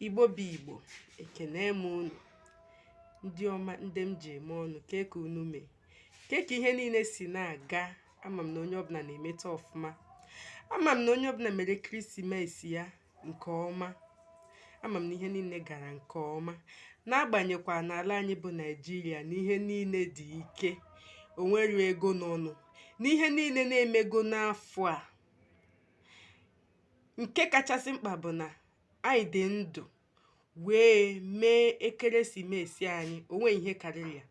igbo bụ igbo ekene m unu ndị ọma ndị m ji eme ọnụ kee ka unu mee kee ka ihe niile si na-aga ama m na onye ọbụla na-emeta ọfụma ama m na onye ọbụla mere ekeresimesi ya nke ọma ama m na ihe niile gara nke ọma n'agbanyekwa n'ala anyị bụ naịjirịa na ihe niile dị ike o nwere ego n'ọnụ n'ihe niile na-emego n'afọ a Nke kachasị mkpa bụ na anyị dị ndụ wee mee ekeresimesi anyị o nweghị ihe karịrị ya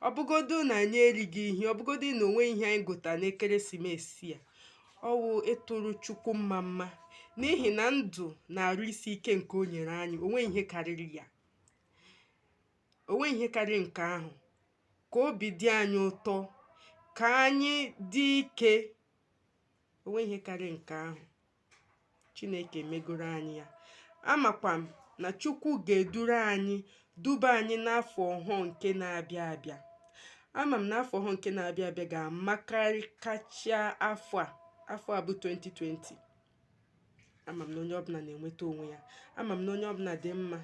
ọ bụgodu na anyị erighị ihe ọ bụgodu na o nweghị ihe anyị gota n'ekeresimesi a ọ wụ ịtụrụ chukwu mmamma n'ihi na ndụ na arụ isi ike nke o nyere anyị o nweghị ihe karịrị ya o nweghị ihe karịrị nke ahụ ka obi dị anyị ụtọ ka anyị dị ike o nweghị ihe karịrị nke ahụ chineke megoro anyị ya amakwa m na chukwu ga-eduru anyị duba anyị n'afọ ọhụụ nke na-abịa abịa ama m na afọ ọhụụ nke na-abịa abịa ga-amakarị kacha afọ a afọ a bụ 2020 ama m na onye ọbụla na-enweta onwe ya ama m na onye ọbụla dị mma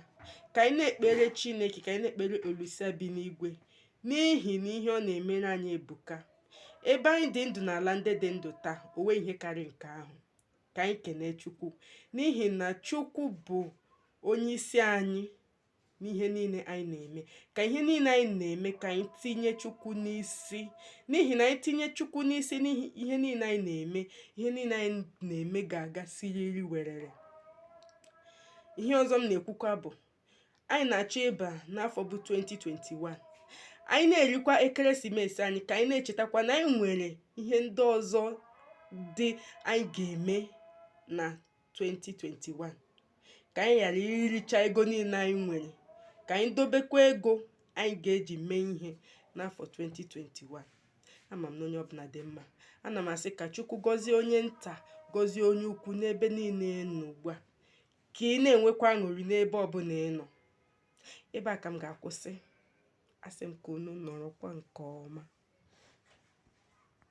ka anyị na-ekpere chineke ka anyị na-ekpere olisa bi n'igwe n'ihi na ihe ọ na-emere anyị ebuka ebe anyị dị ndụ n'ala ndị dị ndụ taa o nweghị ihe karị nke ahụ ka anyị kenee chukwu n'ihi na chukwu bụ onye isi anyị n'ihe niile anyị na-eme ka ihe niile anyị na-eme ka anyị tinye chukwu n'isi n'ihi na anyị tinye chukwu n'isi n'ihe niile anyị na-eme ihe niile anyị na-eme ga-aga siriri werere ihe ọzọ m na-ekwukwa bụ anyị na-achọ ịba n'afọ bụ 2021 anyị na-erikwa ekeresimesi anyị ka anyị na-echetakwa na anyị nwere ihe ndị ọzọ dị anyị ga-eme na 2021 ka anyị ghara iricha ego niile anyị nwere ka anyị dobekwa ego anyị ga-eji mee ihe n'afọ 2021 ama m na onye ọbụla dị mma ana m asị ka chukwu gọzie onye nta gọzie onye ukwu n'ebe niile nọ ugbu a ka ị na-enwekwa aṅụrị n'ebe ọbụla ị nọ ebe a ka m ga-akwụsị asị m ka unu nọrọkwa nke ọma